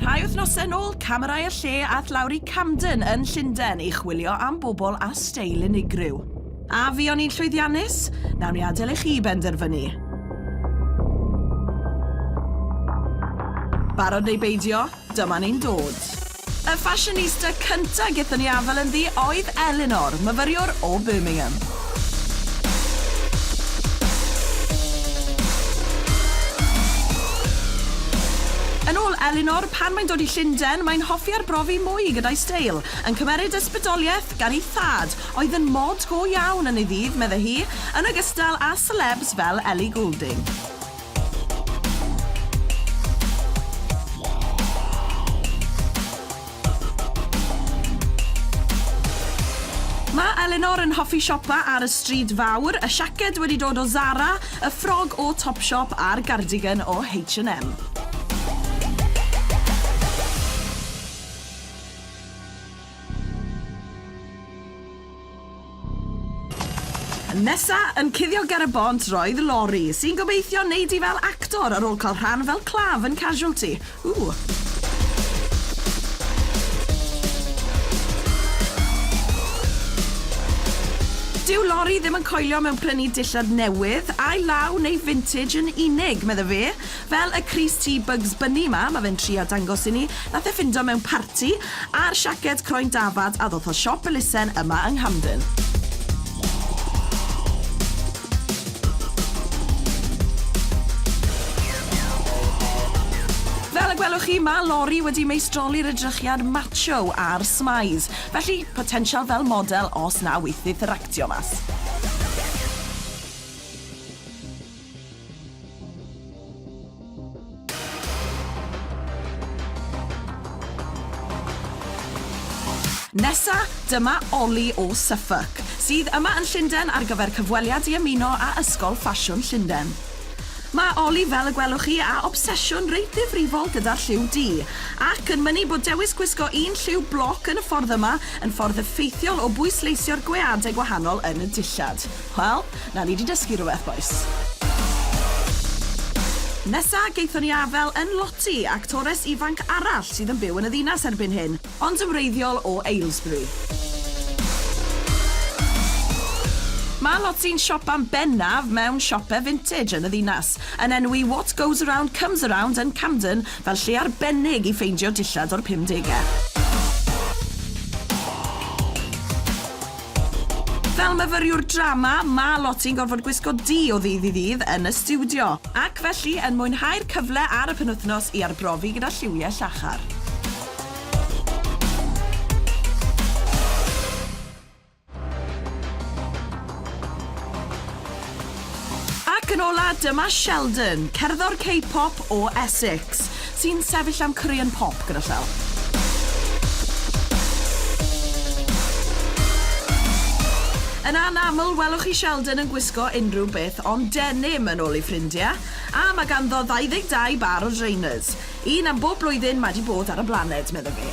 Rhai wythnosau yn ôl, camerau y lle ath lawr i Camden yn Llundain i chwilio am bobl a steil unigryw. A fi o'n i'n llwyddiannus? Nawn ni adael i chi benderfynu. Barod neu beidio? Dyma ni'n dod! Y ffasiynista cynta' gethon ni afel ynddi oedd Elinor, myfyriwr o Birmingham. Yn ôl Elinor, pan mae'n dod i Llunden, mae'n hoffi arbrofi mwy gyda'i steil, yn cymeryd ysbrydoliaeth gan ei thad, oedd yn mod go iawn yn ei ddydd, medde hi, yn ogystal â selebs fel Ellie Goulding. Mae Elinor yn hoffi siopa ar y stryd fawr, y siaced wedi dod o Zara, y ffrog o Topshop a'r gardigan o H&M. Nesa yn cuddio ger y bont roedd Lori, sy'n gobeithio neud hi fel actor ar ôl cael rhan fel claf yn Casualty. Ww! Dyw Lori ddim yn coelio mewn prynu dillad newydd, ail law neu vintage yn unig, medda fe. Fel y crys tŷ Bugs Bunny 'ma, ma' fe'n trio dangos i ni, nath e ffindo mewn parti, a'r siaced croen dafad a ddoth o siop elusen yma yng Nghamden. Fel y gwelwch chi, ma' Lori wedi meistroli'r edrychiad macho a'r smaidd. Felly, potensial fel model os na weithith yr actio mas. Nesa, dyma Ollie o Suffolk, sydd yma yn Llundain ar gyfer cyfweliad i ymuno â Ysgol Ffasiwn Llundain. Mae Ollie, fel y gwelwch chi, â obsesiwn reit ddifrifol gyda'r lliw du, ac yn mynnu bod dewis gwisgo un lliw bloc yn y ffordd yma yn ffordd effeithiol o bwysleisio'r gweadau gwahanol yn y dillad. Wel, na ni 'di dysgu rhywbeth, bois. Nesa, gaethon ni afael yn Lottie, actores ifanc arall sydd yn byw yn y ddinas erbyn hyn, ond yn wreiddiol o Aylesbury. Mae Lottie'n siopa'n bennaf mewn siope vintage yn y ddinas, yn enwi What Goes Around Comes Around yn Camden fel lle arbennig i ffeindio dillad o'r pumdegau. Fel myfyriwr drama, ma' lot i'n gorfod gwisgo du o ddydd i ddydd yn y stiwdio. Ac felly, yn mwynhau'r cyfle ar y penwythnos i arbrofi gyda lliwiau llachar. Ac yn ola, dyma Sheldon, cerddor K-pop o Essex, sy'n sefyll am Korean Pop gyda llaw. Yn anaml, welwch chi Sheldon yn gwisgo unrhyw beth ond denim, yn ôl ei ffrindiau, a mae ganddo 22 bâr o drainers. Un am bob blwyddyn mae 'di bod ar y blaned, medda fe.